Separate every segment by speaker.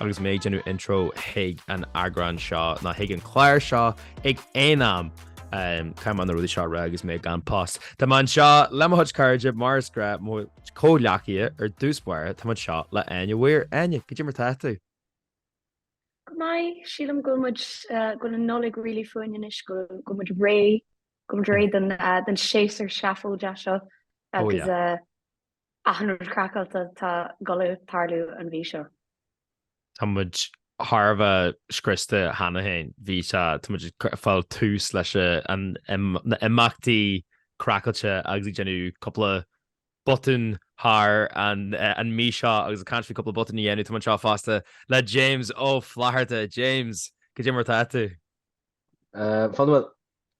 Speaker 1: Agus mé ag déanamh intro chuig an eagrán seo, nó chuig an chlár seo, achan am, caithfidh mé na rudaí seo a rá agus mé gan pus. Tá mé anseo le mo chuid cairde, mar is gnáth, mo chomhghleacaithe ar dtús báire, tá mé anseo le Áine Weir. Áine, goidé mar tá tú? Go
Speaker 2: maith, sílim go bhfuil muid, go bhfuil an Nollaig really fúinn anois, go bhfuil muid réidh, go bhfuil muid réidh don séasúr seafóideach seo, agus Achan rud craiceáilte atá ag gabháil a tharlú an mhí seo.
Speaker 1: Tá muid thar a bheith scriosta cheana féin. Bhí sé, tá muid ag fáil tuirse leis na imeachtaí craiceáilte agus ag déanamh cúpla botún thar an mí seo agus ag caint faoi cúpla botún a dhéanamh. Tá muid anseo fosta le James Ó Flatharta. James, goidé mar atá tú? Fadhb, bhuel,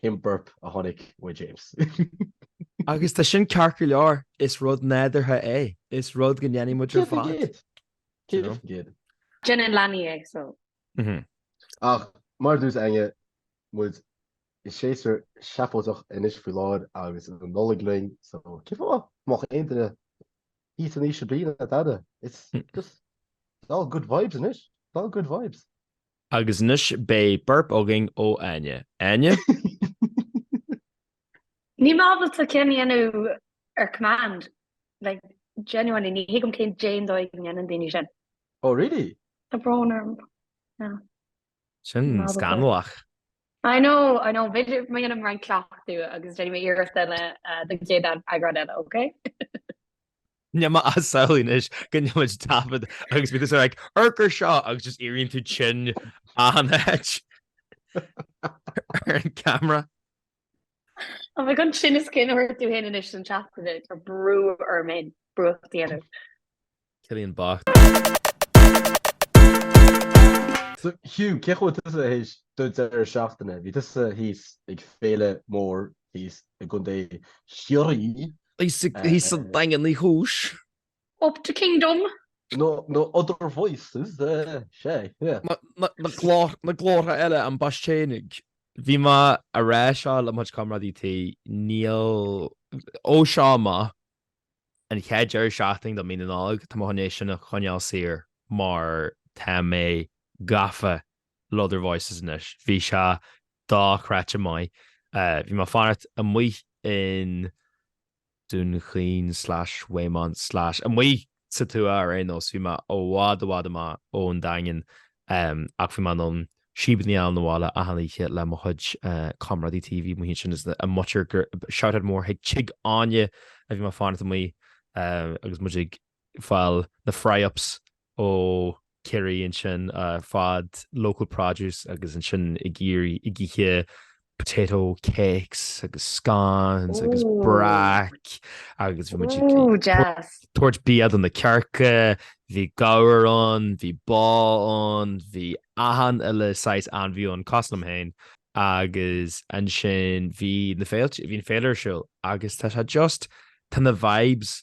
Speaker 3: Sin burp a tháinig ó James?
Speaker 1: Agus tá sin ceart go leor, is rud nádúrtha é, is rud go ndéanann muid ar fad. Céard faoin gcéad? Céard faoin gcéad?
Speaker 2: Déanann leanaí é so. Mh.
Speaker 3: Ach mar a dúirt Áine, muid i séasúr seafóideach anois faoi láthair agus an Nollaig linn so cén fáth go mbeadh aon duine thíos an t-am seo bliana dada, it's just, it's all good vibes anois, it's all good vibes. Agus
Speaker 1: anois beidh burp againn ó Áine.
Speaker 2: Áine? Níl mé ábalta ceann a dhéanamh ar command, like, genuinely, ní thuigim caidé an dóigh go ndéanann daoine sin. Oh
Speaker 3: really? Tá brón
Speaker 2: orm, yeah.
Speaker 1: Sin scannalach. I
Speaker 2: know, I know, b'fhéidir má dhéanaim roinnt cleachtadh agus déanfaidh mé iarracht eile don chéad eagrán eile, ok?
Speaker 1: Tá mé ag samhlú anois go mbeadh muid ag taifead agus bheadh tú sort of like amharc air seo agus just éiríonn tú tinn in áit ar an gcamera.
Speaker 2: An bhfuil an sin is cionn is go bhfuair tú féin anois an teachtaine tá brú orm an brúcht a dhéanamh.
Speaker 1: Cillian
Speaker 3: bocht. So Hugh, cé chaoi raibh sé th'éis deireadh seachtaine? Bhí tusa thíos ag féile mór thíos i gContae Chiarraí.
Speaker 1: Thíos sa Daingean Uí Chúis. Up
Speaker 2: the Kingdom. nó
Speaker 3: Other Voices, sea, sea.
Speaker 1: Na glórtha eile, An Baistéinig. Bhí mé ag rá seo le mo chuid comrádaí tí, níl, ó seo amach, an chéad deireadh seachtaine de Mhí na Nollag, tá mé chun é sin a choinneáil saor mar tá mé gafa Le Other Voices anois. Bhí sé dochreidte maith. Bhí mé ag fanacht amuigh in Dún Chaoin slash Waymont slash amuigh sa tuath ar aon nós, bhí mé i bhfad i bhfad amach ón Daingean ach bhí mé in ann síob a fháil 'na bhaile achan oíche le mo chuid comrádaí tí amuigh ansin is a máthair, shoutout mór chuig Tigh Áine a bhí mé ag fanacht amuigh agus muid ag fáil na fry-ups ó Ciarraí ansin ar fad, local produce agus ansin ag ithe potato cakes agus scones agus Ooh. brack agus bhí muid ag Ooh, jazz. tabhairt bia do na cearca, bhí gabhar ann, bhí ba ann, bhí achan eile saghas ainmhí ann, cosúil liom féin agus ansin bhí na féilte, bhí an féile ar siúl agus tá sé just, tá na vibes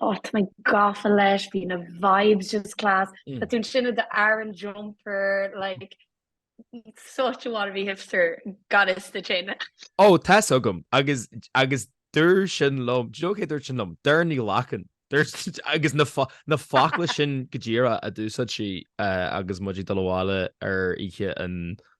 Speaker 2: Oh tá mé gafa leis, bhí na vibes just class. Tá tú ansin i d'Aran jumper like such a
Speaker 1: wannabe
Speaker 2: hipster, got
Speaker 1: it sa
Speaker 2: tine.
Speaker 1: Ó
Speaker 2: tá's agam agus agus
Speaker 1: dúirt sin liom, do you know cé dúirt sin liom? Doireann Ní Ghlacáin. Agus na na focla sin go díreach a d'úsáid sí agus muid ag dul abhaile ar oíche an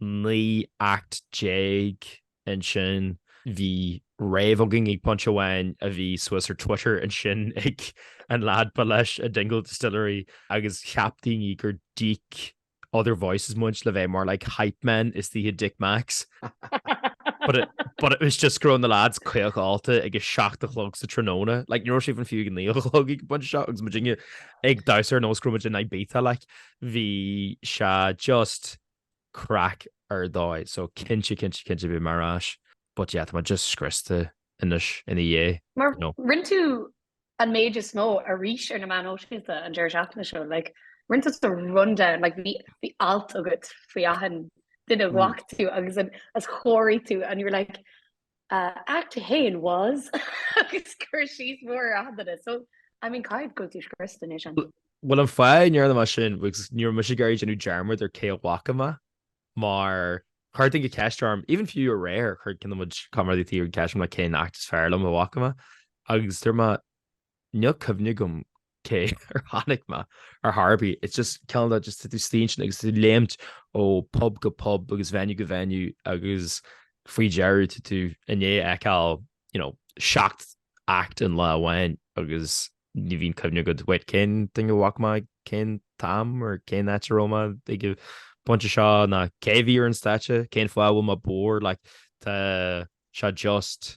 Speaker 1: naoi act déag ansin, bhí rave againn ag pointe amháin a bhí suas ar Twitter ansin ag an leaid ba leis an Dingle Distillery agus cheap daoine gur Dick Other Voices muid le bheith more like Hype Man istigh i Dick Mack's but it but it was just go raibh na leaids caoch ólta ag a seacht a chlog sa tráthnóna like ní raibh sé even fiú a naoi a chlog ag an bpointe seo agus muidinne ag damhsa ar nós go raibh muid in Ibiza like bhí sé just craic ar dóigh so cinnte cinnte cinnte beidh mé ar ais but yeah tá mé just scriosta anois ina dhiaidh Mar no. rinne tú
Speaker 2: an méid is mó arís ar na meáin shóisialta an deireadh seachtaine seo like rinne tú the rundown like bhí bhí alt agat faoi achan duine a bhfaca tú agus an as chóirigh tú and you were like act a haon was agus cur síos mór ar achan duine so I mean cinnte go bhfuil tú scriosta anois an. Bhuel an fáth
Speaker 1: a ndearna mé sin was ní raibh mise ag iarraidh déanamh dearmad ar cé a bhfaca mé mar chuir duine ceist orm even few aréir chuir ceann de mo chuid comrádaithe tí ceist orm like cén act is fearr liom a bhfaca mé agus dúirt mé Níl cuimhne agam cé ar chonaic mé ar chor ar bith, it's just cineál de just tú suí ansin agus tú ag léimt ó pub go pub agus venue go venue agus faoi dheireadh tú i ndiaidh fheiceáil you know, seacht act an lá amháin agus ní bhíonn cuimhne agat wait cén duine a bhfaca mé cén t-am or cén áit a raibh mé ag an bpointe seo ná cé a bhí ar an stáitse, cén fáth a bhfuil mé bodhar like tá sé just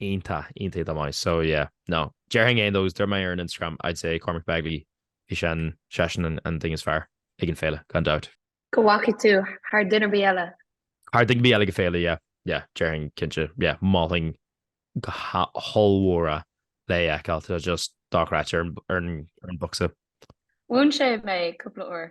Speaker 1: Iontach, iontach maith. So yeah, no. Déarfainn aon nós, dúirt mé ar an Instagram, I'd say Cormac Begley eisean, is eisean an duine is fearr ag an féile, gan dabht. Go bhfaca tú
Speaker 2: thar duine bí eile? Thar duine ar bith eile
Speaker 1: ag an féile, yeah, yeah, déarfainn, cinnte, yeah, mholfainn go hollmhór é a fheiceáil, tá sé just dochreidte ar an mbocsa. Mhúin sé
Speaker 2: mé cúpla uair.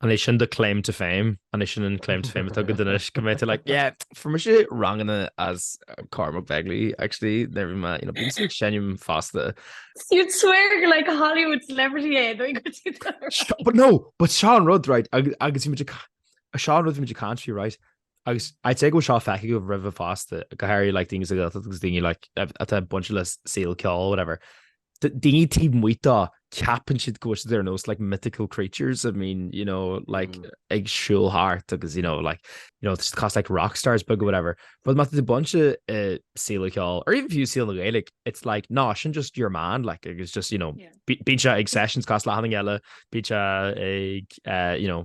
Speaker 2: An é
Speaker 1: sin do claim to fame? An é sin an claim to fame atá agad anois, go mbeidh tú like, yeah, fuair mise ranganna ó Cormac Begley, actually, nuair a bhí mé, you know, bím ag seinm fosta. You'd
Speaker 2: swear gur like Hollywood celebrity é, nó go tú
Speaker 1: But no, but sin an rud, right, agus bhí muid ag sin an rud a bhí muid ag caint faoi, right, agus I'd say go bhfuil seo feicthe agat roimhe fosta go háirithe le daoine sa Ghaeltacht agus daoine atá bainte le saol an cheoil whatever. Daoine taobh amuigh de ceapann siad go bhfuil siad ar nós like mythical creatures I mean you know like mm. ag siúl thart agus you know like you know cosúil le rock stars beaga whatever but má tá tú bainte le, uh, saol an cheoil or even fiú saol na Gaeilge it's like no sin just your man like it's just you know yeah. bíonn sé ag sessions cosúil le haon duine eile bíonn sé ag uh, you know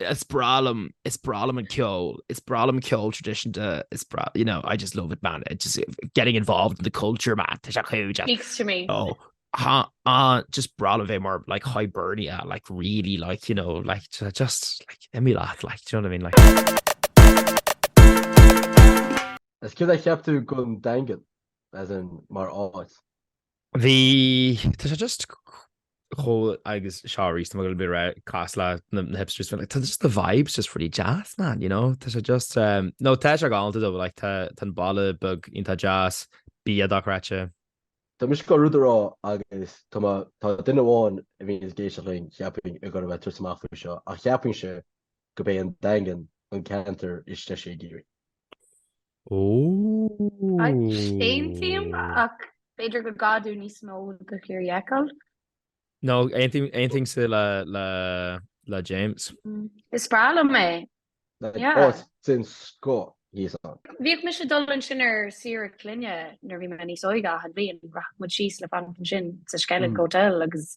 Speaker 1: Is breá liom, is breá liom an ceol, is breá liom ceol traditionta, is breá, you know, I just love it, man. It's just uh, getting involved in the culture, man. Tá sé chuid. Speaks to me.
Speaker 2: Oh, ha, ah,
Speaker 1: just breá liom bheith mar, like, Hibernia, like, really, like, you know, like, ju- just, like, imi leat, like, do you know what I mean? Like,
Speaker 3: Is céad a cheap tú gon daingean, as in mar áit. Bhí, tá
Speaker 1: sé just chomh, agus seo arís, tá mé beagán cosúil leis na hipsters, like, tá just the vibes just really deas, man, you know? Tá sé just, um, no, tá sé galánta dó, like, tá an baile beag iontach deas, bia dochreidte. Tá mise ag
Speaker 3: dul rud a rá agus tá duine amháin a bhíonn ag éisteacht linn, cheapfainn, ag dul a bheith ag tabhairt amach faoi seo, ach cheapfainnse gurb é an Daingean an ceantar is deise i gCiarraí.
Speaker 2: Aontaím ach b'fhéidir go gcaithfidh níos mó de Chiarraí a fheiceáil. No, aontaímse le James.
Speaker 1: Is
Speaker 2: breá
Speaker 1: liom é.
Speaker 3: Oisín's go thíos ann. Bhíodh mise ag dul
Speaker 2: ansin ar saoire clainne nuair a bhí mé níos óige, achan bhliain. Rachadh muid síos le fanacht ansin sa Skellig Hotel agus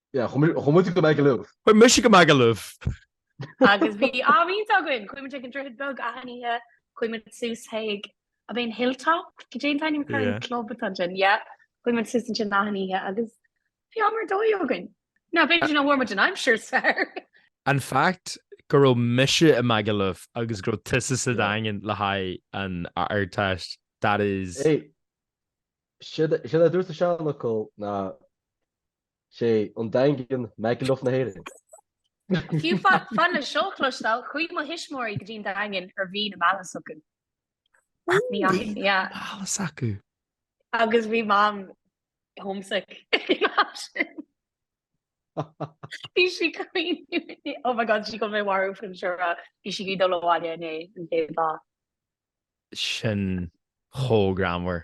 Speaker 2: Yeah, chuaigh
Speaker 3: muide go Magaluf. Chuir mise go Magaluf.
Speaker 2: Agus bhí am iontach againn, chuaigh muid chuig an Droichead Beag achan oíche, chuaigh muid suas chuig, an é an Hilltop? Cad é an t-ainm atá ar an club atá ansin? Yeah, chuaigh muid suas ansin achan oíche agus bhí am ar dóigh againn. Now b'fhéidir sin mar fuair muid an aimsir, sure! An
Speaker 1: fact go raibh mise i Magaluf agus go raibh tusa sa Daingean le haghaidh an Ardteist, that is. Hey,
Speaker 3: sin mar a dúirt an seanfhocal ná is é an Daingean Magaluf na hÉireann.
Speaker 2: Fiú fan le seo a chloisteáil, chuaigh mo thuismitheoirí go dtí an Daingean ar mhí na meala s'acu. Mhí na meala
Speaker 1: s'acu. Agus
Speaker 2: bhí Mam homesick. Bhí sí ag caoineadh. Oh my God, sí ag dul mé a mharú faoi seo a rá. Bhí sí ag iarraidh dul abhaile i ndiaidh an chéad lá.
Speaker 1: Sin chomh greannmhar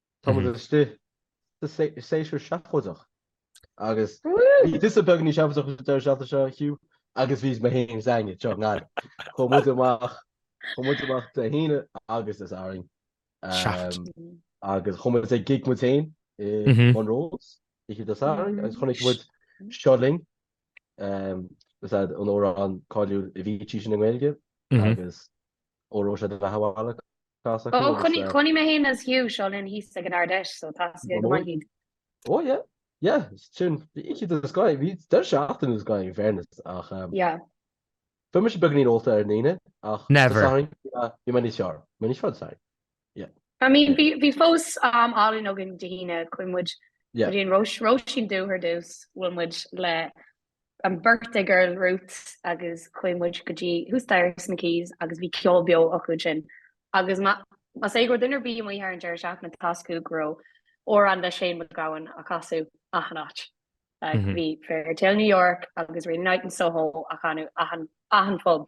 Speaker 3: Tá muid istigh sa séasúr seafóideach agus bhí tusa beagáinín seafóideach an deireadh seachtaine seo, Hugh, agus bhí mé féin is Áine anseo i nGaillimh. Chuaigh muid amach, chuaigh muid amach Dé hAoine agus Dé Sathairn. agus chuaigh muid chuig gig muid féin i Monroe's, oíche Dé Sathairn, agus chonaic muid Seo Linn, an amhrán cáiliúil a bhí i dtús na nGaeilge, agus óró sé do bheatha 'bhaile Oh chonaic
Speaker 2: chonaic mé féin is Hugh seo linn thíos ag an Ardfheis so tá aige go maith iad. Oh
Speaker 3: yeah yeah sin bhí siad as Gaillimh bhí deireadh seachtaine deas againn in fairness ach um yeah fuair mise beagáinín ólta ar an Aoine ach
Speaker 1: never bhí mé níos
Speaker 3: fearr mé níos fearr sorry yeah I mean
Speaker 2: bhí bhí fós am álainn againn Dé hAoine chuaigh muid yeah go dtí an Róis Róisín Dubh ar dtús bhuail muid le an birthday girl Ruth agus chuaigh muid go dtí thuas staighre sna Quays agus bhí ceol beo acu ansin agus más é go raibh duine ar bith amuigh thar an deireadh seachtaine tá a fhios acu go raibh amhrán le Shane MacGowan á chasadh achan áit. Bhí Fairytale New York agus Rainy Night in Soho á chanadh achan pub.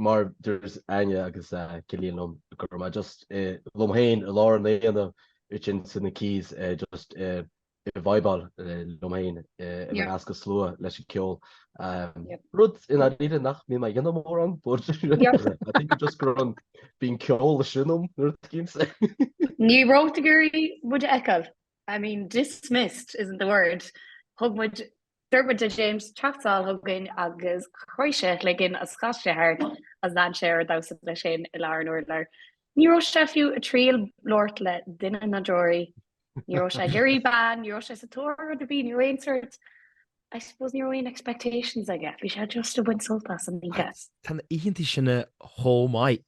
Speaker 3: mar dúirt Áine agus is cuimhin liom go raibh mé just liom féin i lár an aonaigh ansin sna Quays just ag vibeáil liom féin i measc an slua leis an ceol, rud i ndáiríre nach mbíonn mé ag déanamh mórán but I think it just go raibh an bíonn ceol i sin a'm nuair a tuigim sé. Ní raibh
Speaker 2: tú ag iarraidh muid a fheiceáil, I mean dismissed isn't the word, thug muid Dúirt muid le James teacht anall chugainn agus chroith sé a chloigeann is chas sé thart is lean sé air ag damhsa leis féin i lár an urláir. Ní raibh sé fiú ag triail labhairt le duine ná deoraí. Ní raibh sé ag iarraidh bean, ní raibh sé sa tóir ar rud ar bith, ní raibh aon sórt, I suppose, ní raibh aon expectations aige, bhí sé just ag baint sult as an oíche.
Speaker 1: Tá na
Speaker 2: oícheantaí
Speaker 1: sin chomh
Speaker 2: maith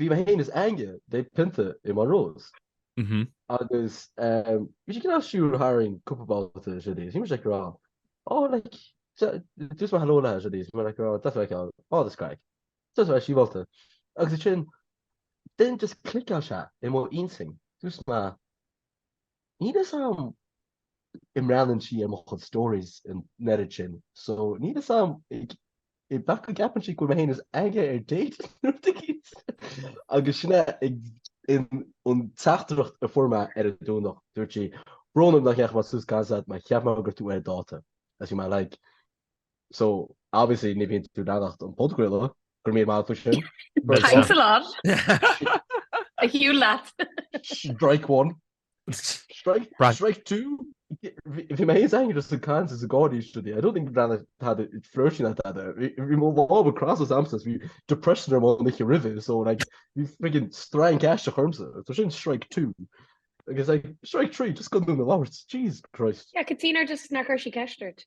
Speaker 3: bhí mé féin is Ange le haghaidh pionta i Monroe's agus bhí sí cineál ag siúl tharainn cúpla babhta is rudaí is bhí mise ag rá oh like dúirt mé hello léi is rudaí is bhí mé ag rá deas a bheith ann oh that's great deas a bheith sibhialta agus ansin then just clickáil sé i mo intinn dúirt mé Níl a fhios a'm an mbreathnaíonn sí ar mo chuid stories an oiread sin so níl a fhios a'm b'fhéidir go gceapann sí go bhfuil mé féin is Ange ar date nó do ghios. Agus sin é an teachtaireacht a fuair mé ar an Domhnach dúirt sí, Brón orm nach ndeachaigh mé suas ag caint leat, mar cheap mé go raibh tú ar dáta, is bhí mé like, So, obviously, ní bhíonn tú ag leanacht an podchraoladh, go raibh míle maith faoi sin. Thanks
Speaker 2: a lot! A Hugh lad! Strike
Speaker 3: one. Strike two. Bhí mé aos aithne as an caint is an gáirí istigh di. I don't think bhean tada froisin a tada. Bhí mo lámha crosta agamsa is bhí depression orm ón oíche roimhe so like bhí friggin strainc aisteach ormsa. So sin strike two. Agus like strike three just go ndú na labhairt. Jesus Christ. Yeah, Katina just nach
Speaker 2: raibh sí ceist ort.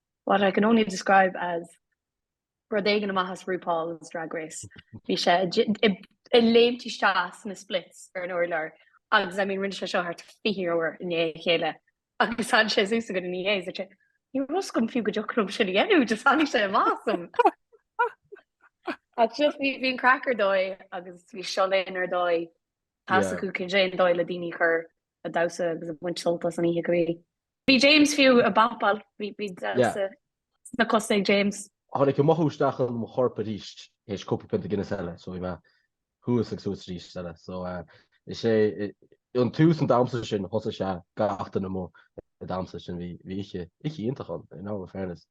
Speaker 2: What I can only describe as rud éigin amach as RuPaul's Drag Race. Bhí sé ag léimt isteach sna splits ar an urlár agus I mean rinne sé seo thart fiche uair i ndiaidh a chéile agus tháinig sé suas chugainn ina dhiaidh agus dúirt sé Ní raibh a fhios agam fiú go dtiocfadh liom sin a dhéanamh, just tháinig sé amach asam. Ach just bhí an craic ar dóigh agus bhí siad uilig ar dóigh, tá a fhios acu cén dóigh ar dóigh le daoine a chur a damhsa agus a bhaint sult as an oíche go díreach. Bhí James fiú ag bopáil, bhí damhsa sna cosa ag James. Tháinig an mothú isteach
Speaker 3: in mo chorp arís tar éis cúpla pionta Guinness eile, so bhí mé thuas ag suas arís is eile. So is é an tús an damhsa sin thosaigh gach duine amuigh ag damhsa, so bhí oíche iontach ann in all fairness.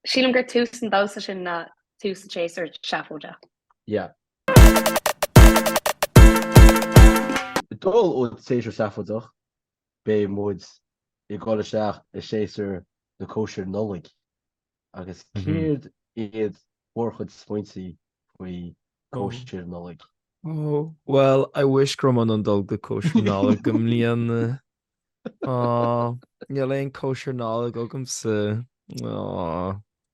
Speaker 3: Sílim gur
Speaker 2: tús an damhsa sin ná tús an tséasúir sheafóidigh. Yeah,
Speaker 3: Ag dul ó tséasúr seafóideach, beidh muid ag dul isteach i séasúr na cóisir Nollaig agus céard iad bhur gcuid smaointe faoi chóisir Nollaig?
Speaker 1: Oh, well, I wish go raibh mé in ann dul go dtí cóisir Nollaig i mbliana. Á, níl aon cóisir Nollaig agamsa. Á.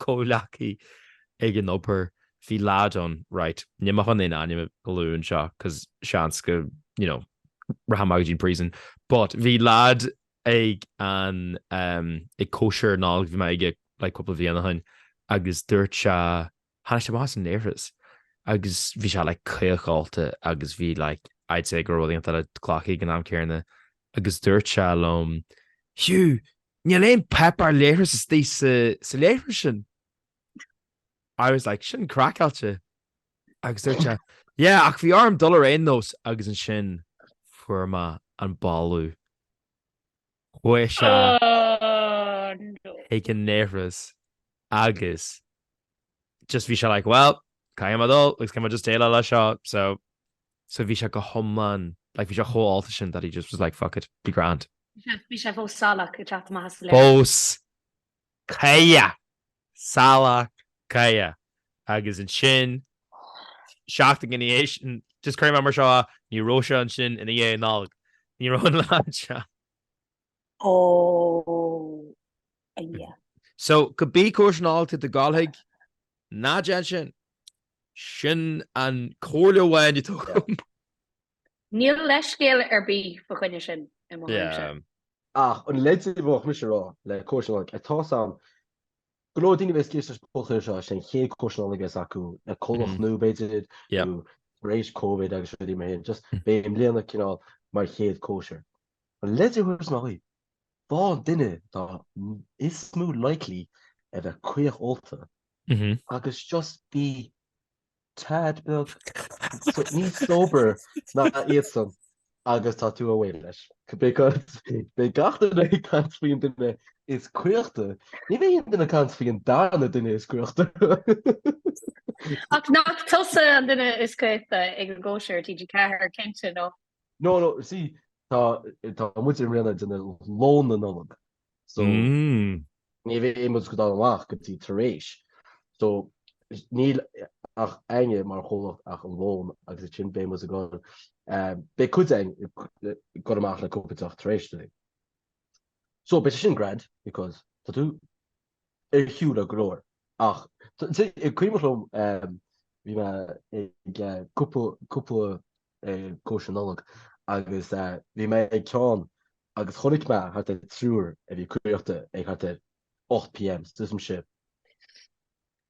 Speaker 1: comhghleacaí ag an obair, bhí lad ann, right, níl mé chun aon ainm a lua anseo cos seans go, you know, rachaidh mé go dtí an prison, but bhí lad ag an, ehm, ag cóisir Nollaig a bhí mé aige like cúpla bliain ó shin agus dúirt sé, tháinig sé amach as an léithreas agus bhí sé like caochálta agus bhí like I'd say go raibh an-tuiscint ar an gcloch aige ag an am céanna agus dúirt sé liom, Hugh, Níl aon páipéar leithris istigh sa leithreas sin. I was like, sin craiceáilte. Agus dúirt sé, Yeah, ach bhí orm dul ar aon nós agus ansin fuair mé an boladh. Chuaigh sé Oh, no. chuig an leithreas agus just bhí sé like, well, caithfidh mé dul agus caithfidh mé just déileáil leis seo, so So bhí sé go hiomlán, like bhí sé chomh hólta sin that he just was like fuck it, be
Speaker 2: grand. Bhí sé fós salach,
Speaker 1: ag teacht amach as an leithreas. Fós cacach! Salach cacach! Agus ansin, seachtain ina dhiaidh sin, just cuirim é mar seo, ní raibh sé ansin i ndiaidh an Nollaig. Ní raibh an lad ansin. Oh yeah. So, cibé cóisir Nollag atá tú ag dul go dtí, ná déan sin. Sin an comhairle amháin atá agam. Níl leithscéal ar bith fá choinne
Speaker 2: sin i
Speaker 1: mo
Speaker 3: thuairimse. Ach an leid a bheadh mise a rá le cóisir Nollag, ar tá a fhios agam go leor daoine a bheas ag éisteacht leis an bpodchraoladh seo, is é an chéad cóisir Nollag a bheas acu lena gcomhlacht nua b'fhéidir, nó tar éis Covid agus rudaí mar sin, just beidh i mbliana cineál mar chéad cóisir. An leid a thabharfainn ná í, faigh an duine atá is mó likely a bheith caoch ólta agus just be tad beag níos sober ná iadsan agus tá tú abhaile leis. Beidh gach duine ag caint faoi an duine is caochta, ní bheidh aon duine ag caint faoi an darna duine is caochta.
Speaker 2: Ach nach tusa an duine is caochta ag an gcóisir TG4 cinnte nó? No no
Speaker 3: see tá tá muidinne ag déanamh lón na Nollag so ní bheidh muid ag dul amach go dtí tar éis so níl againne mar chomhlacht ach an lón agus ansin beidh muid ag dul beidh cuid againn ag dul amach le cúpla deoch tar éis dó. So beidh sé sin grand because tá tú ar shiúl le go leor ach is cuimhin liom bhí mé ag cúpla cóisir Nollag agus bhí mé ag ceann agus chonaic mé thart ar triúr a bhí caochta ag thart ar 8 pm, so tuigimse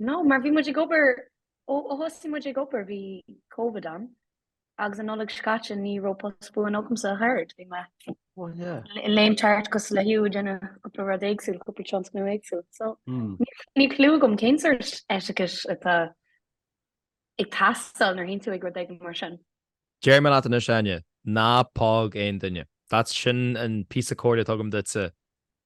Speaker 2: No, mar bhí muid ag obair, ó thosaigh muid ag obair bhí Covid ann agus an Nollaig seo caite ní raibh post buan agamsa thar a, bhí mé ag léim thart cosúil leat féin, ag déanamh cúpla rud éagsúil, cúpla tionscnamh éagsúil, so níl clue agam cén sórt etiquette atá ag teastáil nuair théann tú ag rud éigin mar sin. Deirim leat anois
Speaker 1: Áine, ná póg aon duine, that's sin an píosa comhairle a thugaim duitse,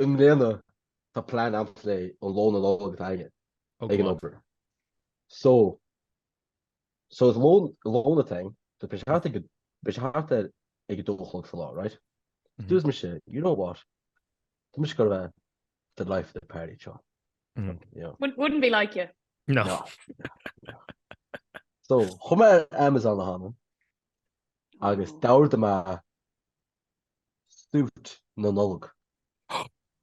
Speaker 3: I mbliana tá plean ann i mbliana lón Nollag againn ag an obair. So so it's lón a thing so beidh sé thart ag beidh sé thart ar ag a dó a chlog sa lá right? Dúirt mise you know what tá mise ag gabháil the life of the party seo. Wouldn't wouldn't be like
Speaker 2: you. No.
Speaker 3: No. So chuaigh mé ar Amazon cheana agus d'ordaigh mé Suit na Nollag.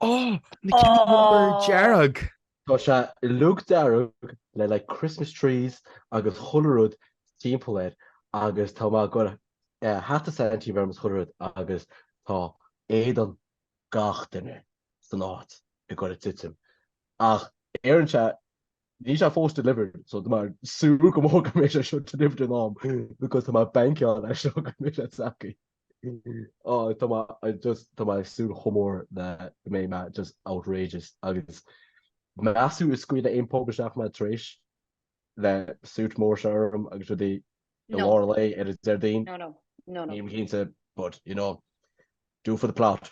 Speaker 1: Oh! Na cinn dhearga! Tá sé
Speaker 3: uilig dearg le like Christmas trees agus chuile rud timpeall air agus tá mé ag cur hata Santy orm is chuile rud agus tá éadan gach duine san áit ag gabháil a titim ach deireann sé níl sé fós delivered so tá mé ag súil go mór go mbeidh sé seo delivered in am because tá mé ag bankáil air seo go mbeidh sé tacky. Oh tá mé I just tá mé ag súil chomh mór le go mbeidh mé just outrageous agus meas tú an scaoilfidh aon pub isteach mé tar éis le suit mór seo orm agus é i No. lár lae ar an Déardaoin. No, no. No, no. Nílim
Speaker 2: cinnte but
Speaker 3: you know do it for the plot.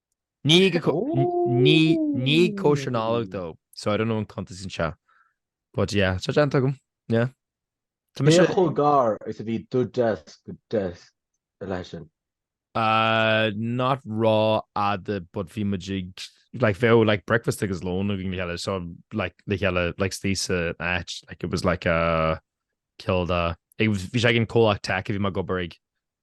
Speaker 1: Ní ag Ní ag cóisir na Nollag though. So I don't know an gcuntasann sé. But yeah, seo déanta agam. Yeah.
Speaker 3: Tá
Speaker 1: mise. Cé
Speaker 3: chomh gar is a bhí do deasc go deasc ar leith sin?
Speaker 1: Uh, not rófhada but bhí muid ag like bheadh like breakfast agus lón againn le chéile so like le chéile like istigh san áit like it was like a cineál de bhí sé ag an comhlacht tech a bhí mé ag obair ag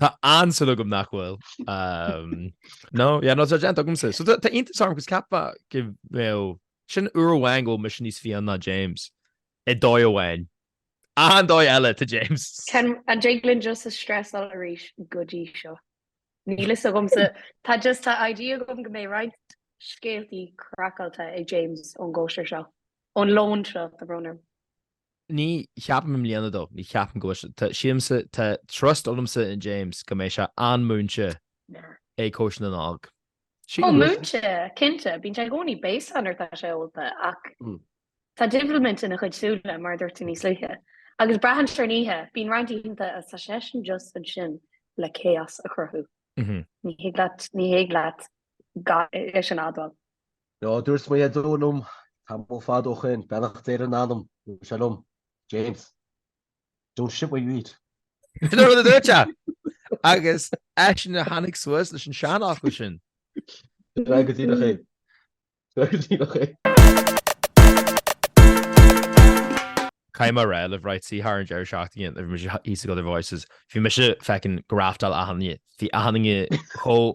Speaker 1: Tá an-súil agam nach bhfuil. No, yeah, no, tá déanta agamsa. So tá iontas orm 'cause ceapfá go bhfuil sin uair amháin go bhfuil mise níos fiáine ná James. I dóigh amháin. An dóigh eile tá James. Can an dtig
Speaker 2: linn just a stressáil arís go dtí seo. Níl fhios agamsa. Tá just tá idea agam go mbeidh roinnt scéaltaí craiceáilte ag James ón gcóisir seo, ón lón seo, tá brón orm.
Speaker 1: Ní cheapaim i mbliana though, ní cheapaim go bhfuil sé, tá, sílimse, tá trust agamsa in James go mbeidh sé an-múinte ag cóisir na Nollag. Sílim Ó, go bhfuil sé. múinte,
Speaker 2: cinnte, bíonn sé i gcónaí béasach nuair atá sé ólta ach tá divilment ina chuid súile, mar a dúirt tú níos luaithe, agus braitheann sé ar an oíche. Bíonn roinnt oícheanta atá seisean just ansin le chaos a chruthú. Ní thig leat, ní thig leat gan é sin a admháil. No,
Speaker 3: dúirt mo dhaideo liom tamall fada ó shin, beannacht Dé ar a anam, dúirt sé liom, James, don't shit where you eat. Sin an rud a dúirt
Speaker 1: sé! Agus eisean a tháinig suas leis an seanfhocal sin. Tráth go
Speaker 3: dtí do chéim. Tráth go dtí do
Speaker 1: chéim. Caithfidh mé a rá libh right, see thar an deireadh seachtaine nuair a bhí mise thíos ag other voices, bhí mise feckin' ag graftáil achan duine, bhí achan duine chomh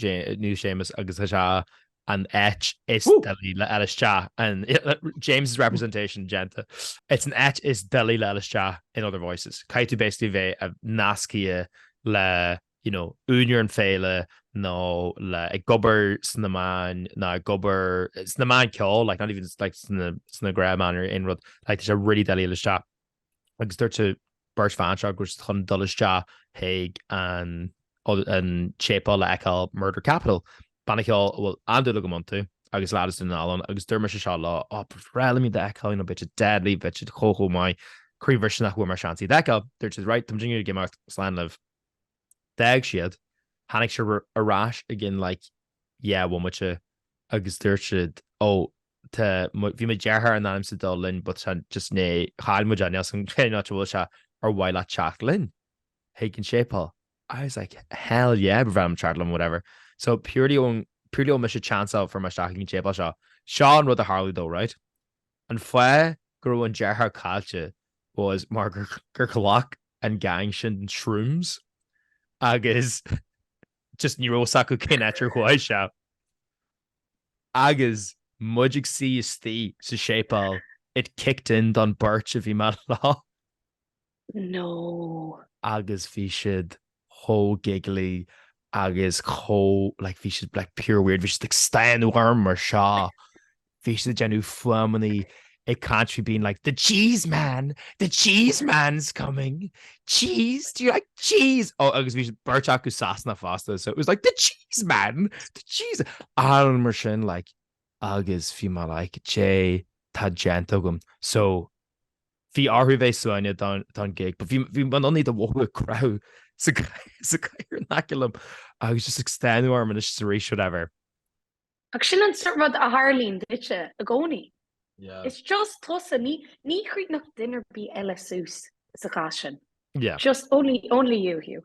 Speaker 1: niche famous agus tá sé an áit is doiligh le fháil isteach in James's representation déanta. It's an áit is doiligh le fháil isteach in other voices. Caithfidh tú basically bheith nascaithe le you know, úinéir an féile nó le ag obair sna meáin nó ag obair sna meáin ceoil, like not even like sna sna gnáthmheáin nó aon rud, like tá sé really doiligh le fháil isteach. agus dúirt an beirt bhan seo go raibh siad chun dul isteach chuig an séipéal le fheiceáil Murder Capital. Banna ceoil a bhfuil an-dúil agam iontu agus leaid as Dún na nGall ann agus dúirt mise seo leo, Á, ba bhreá liom iad a fheiceáil, you know, beidh siad deadly, beidh siad chomh chomh maith, croíbhriste nach bhfuair mé an seans iad a fheiceáil. Dúirt siad, Right, tá muidinne ag imeacht, slán libh. D'fhág siad, tháinig siad ar ais i gceann like dhá bhomaite agus dúirt siad ó tá, bhí mo dheartháir in ainm is a dul linn but tá just né, chaill muid é, níl a fhios againn cén áit a bhfuil sé, ar mhaith leat teacht linn chuig an séipéal? I was like hell yeah, ba bhreá liom teacht liom whatever. So purely ón, purely ó mise ag chanceáil fuair mé isteach ag an séipéal seo, seo an rud a tharlaigh though right, An fáth go raibh an deartháir caillte was mar gur ghlac an gang sin shrooms agus just ní raibh fhios acu cén áit ar chuaigh sé. Agus muid ag suí istigh sa séipéal it kicked in don beirt a bhí mé leo.
Speaker 2: No! agus bhí
Speaker 1: siad chomh giggly agus chomh like bhí siad like pure weird, bhí siad ag stánadh orm mar seo, bhí siad ag déanamh fuaimeanna ag caint faoi being like the cheese man, the cheese man's coming, cheese, do you like cheese? Ó agus bhí siad beirt acu as Sasana fosta so it was like the cheese man, the cheese, a lán mar sin like agus bhí mé like cad é atá déanta agam so Bhí orthu bheith suaimhneach don gig. But bhí bhí mé in ann iad a mhothú ag croitheadh sa sa gcathaoir in aice liom agus just ag stánadh orm anois is arís whatever. Ach
Speaker 2: sin an sórt rud a tharlaíonn duitse i gcónaí. Yeah.
Speaker 3: It's just
Speaker 2: tusa, ní ní chríochnódh duine ar bith eile suas sa chás sin. Yeah. Just
Speaker 1: only only
Speaker 2: you, Hugh.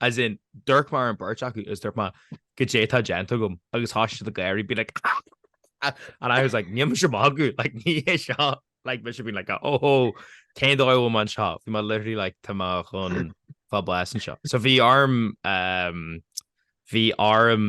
Speaker 1: as in d'amharc mé ar an beirt acu agus dúirt mé cad é atá déanta agam agus thosaigh siad ag gáirí being like and I was like níl mise ag magadh like ní hé seo like mise being like oh oh cén dóigh a bhfuil mé anseo bhí mé literally like tá mé chun fáil bháis anseo so bhí orm um, bhí orm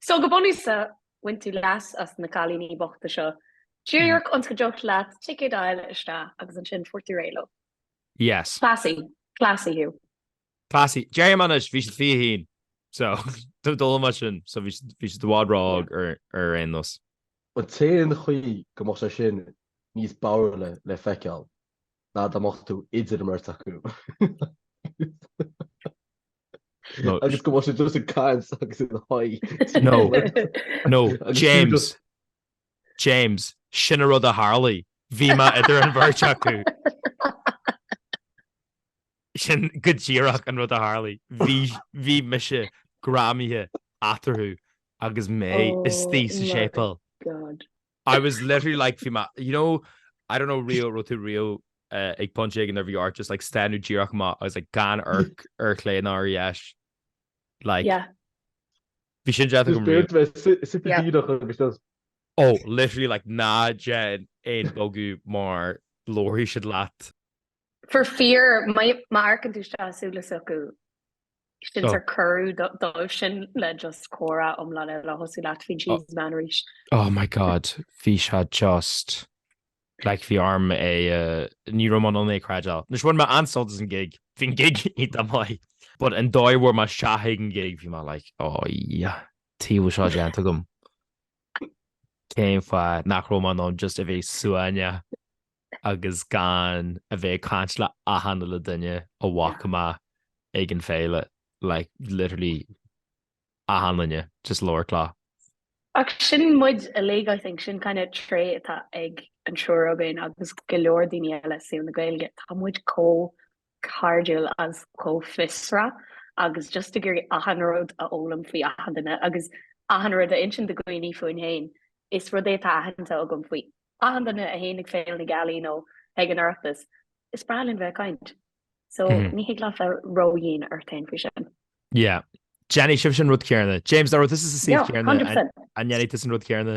Speaker 2: So go bunúsach, bhain tú leas as na cailíní bochta seo. Díreach ionas go dtiocfadh leat ticéad a fháil isteach agus ansin fuair tú réidh leo. Yes.
Speaker 1: Classy.
Speaker 2: Classy Hugh. Classy.
Speaker 1: Deirim anois, bhí siad fiche haon. So, d'fhoghlaim mé sin. So bhí siad i bhfad ró-óg ar aon nós. An
Speaker 3: t-aon chaoi go mbeadh sé sin níos barrúla le feiceáil ná dá mbeadh tú idir an bheirt acu. No, agus go bhfuil sé just an cad agus an haid. No, no, James.
Speaker 1: James, sin an rud a tharlaigh. Bhí mé idir an bheirt acu. Sin go díreach an rud a tharlaigh. Bhí mise greamaithe eatarthu agus mé oh, istigh sa séipéal. I was literally like, fi ma, you know, I don't know, Rio, ro tú Rio uh, ag punch ag an nervy art, just like stanu díreach ma, I was like, gan arc ar clé ná ar yes. Like, yeah. Bhí sin death go Rio. Oh, literally like ná gen in bogu mar lóirí siad leat.
Speaker 2: For fíor, má amharcann tú isteach i súile s'acu, sin sórt cuireadh dóibhsean le just comhrá iomlán eile a thosú leat faoin Cheese Man arís. Oh my God,
Speaker 1: bhí sé just, like bhí orm é, ní raibh mé in ann é a chreidbheáil. Anois bhain mé an-sult as an gig, bhí an gig iontach maith, but an dóigh a bhfuair mé isteach ag an gig bhí mé like oh yeah, tuige a bhfuil seo déanta agam. Cén fáth nach raibh mé in ann just a bheith suaimhneach? agus gan a bheith ag caint le achan uile duine a bhfaca mé ag an bhféile, like, literally achan duine, just labhairt leo.
Speaker 2: Ach sin muid uilig, I think, sin kind of trait atá ag an triúr againn agus go leor daoine eile i saol na Gaeilge, tá muid chomh cairdiúil is chomh fiosrach agus just ag iarraidh achan rud a fhoghlaim faoi achan duine agus achan rud a insint do dhaoine fúinn féin. Is rud é atá aitheanta agam faoi achan duine a théann ag Féile na Gealaí nó ag an Oireachtas, is breá linn bheith ag caint. So, ní thig leat bheith ró-dhian ort féin faoi sin. Yeah.
Speaker 1: Déanfaidh sibhse an rud céarna. James, dá raibh tusa sa suíomh céarna, an ndéanfaidh tusa an rud céarna?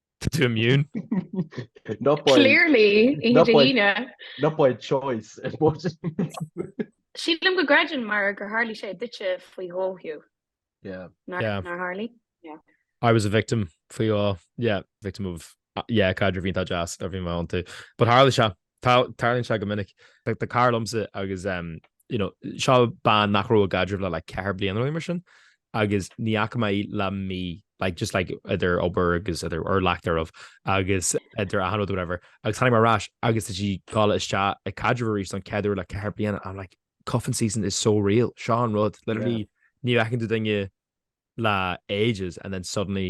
Speaker 3: Tá
Speaker 1: tú immune.
Speaker 3: Not by. Clearly, oíche Not Dé
Speaker 2: by-
Speaker 3: hAoine. Not by choice. I suppose.
Speaker 2: Sílim go gcreideann mar gur tharlaigh sé duitse faoi dhó, Hugh. Yeah. Nár
Speaker 3: Yeah.
Speaker 2: nár tharlaigh? I was
Speaker 1: a victim faoi dhó. Yeah, victim of... Yeah, caidrimh iontach deas, a bhí mé iontu. But tharla sé, Tarlaíonn sé go minic. Tá cara liomsa agus you know seo bean nach raibh i gcaidreamh le like ceithre bliana nó rud mar sin agus ní fhaca mé í le mí like just like idir obair agus idir or lack thereof agus idir achan rud or whatever agus tháinig mé ar ais agus tá sí ag gabháil isteach i gcaidreamh arís don chéad uair le ceithre bliana and I'm like cuffing season is so real seo an rud literally ní fheiceann tú duine le ages and then suddenly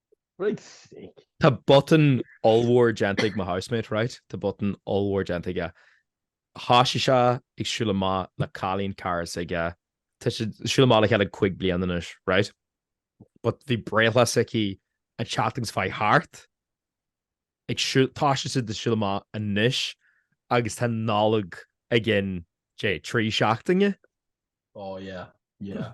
Speaker 3: Right sick. Tá
Speaker 1: botún ollmhór déanta ag mo housemate, right? Tá botún ollmhór déanta aige. Thoisigh sé ag siúl amach le cailín cara s'aige. Tá siad ag siúl amach le chéile cúig bliana anois, right? But bhí breithlá s'aici an tseachtain seo a chuaigh thart. Ag siúl, thoisigh siad ag siúl amach anois agus tá Nollaig i gceann, cad é, trí seachtaine. Oh
Speaker 3: yeah, yeah.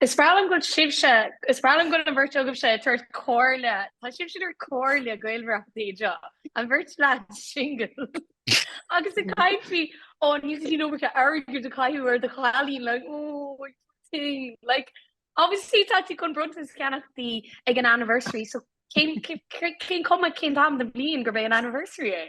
Speaker 3: Is
Speaker 2: breá liom go bhfuil sibhse, is breá liom go bhfuil an bheirt agaibhse ag tabhairt comhairle, tá sibhse ag tabhairt comhairle Gaelbhratachtaí anseo, an bheirt leaid singil, agus ag caint faoi, ó, níl tú chun iomarca airgid a chaitheamh ar do chailín, like, oh, poor thing, like, obviously tá tú chun bronntanas a cheannacht di ag an anniversary, so cén, cén, cén chuma, cén t-am den bhliain gurb é an anniversary é?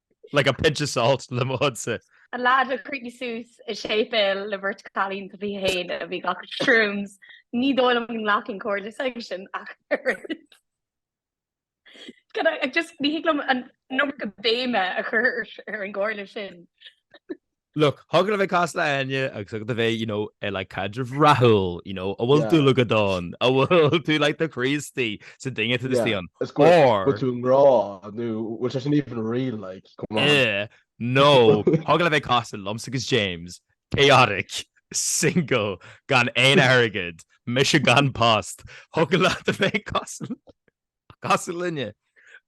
Speaker 1: Like a pinch of salt le mo chuidse. An leaid a
Speaker 2: chríochnaigh suas i séipéal le beirt chailín fiche haon a bhí ag glacadh shrooms, ní dóigh liom go nglacfainn comhairle s'aigesean ach oiread. Just ní thig liom an iomarca béime a chur ar an gcomhairle sin.
Speaker 1: Look, thig leat a bheith cosúil le Áine agus thig leat a bheith, you know, ar like caidreamh rathúil, you know, a bhfuil tú locked down, a bhfuil tú like do chroí istigh sa duine, tá tú istigh ann, or. Is go bhfuil tú i
Speaker 3: ngrá nó bhfuil sé sin even real like, come on. Eh,
Speaker 1: nó thig leat a bheith cosúil liomsa agus James, chaotic, single, gan aon airgead, mise gan post, thig leat a bheith cosúil linne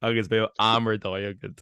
Speaker 1: agus beidh am ar dóigh agat.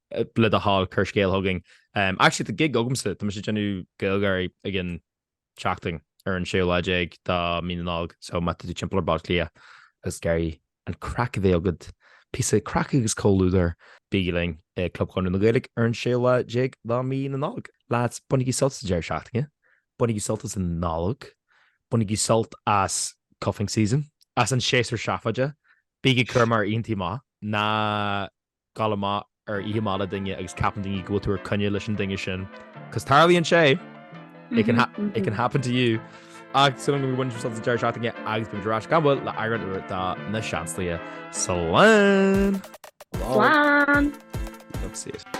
Speaker 1: le do thoil cuir scéal chugainn. Um, actually tá gig agamsa, tá sé ag déanamh Gaelgáirí ag an seachtain ar an 16 lá déag de mhí na Nollag, so má tá tú timpeall ar Bhaile Átha Cliath agus ag iarraidh an craic a bheith agad, píosa craic agus comhluadar, bígí linn i Club Chonradh na Gaeilge ar an 16 lá déag de mhí na Nollag. Lads, bainigí sult as an deireadh seachtaine, bainigí sult as an Nollag, bainigí sult as cuffing season, as an séasúr seafóide, bígí cúramach inti má tá Gabháil amach ar oíche amach le duine agus ceapann daoine go bhfuil tú ar coinne leis an duine sin, cos tarlaíonn sé, it can ha, it can happen to you. Ach sin é, bainigí sult as an deireadh seachtaine agus beidh muid ar ais gan mhoill le eagrán úr de Na Seansálaithe.
Speaker 2: Slán!
Speaker 1: Slán! That's it.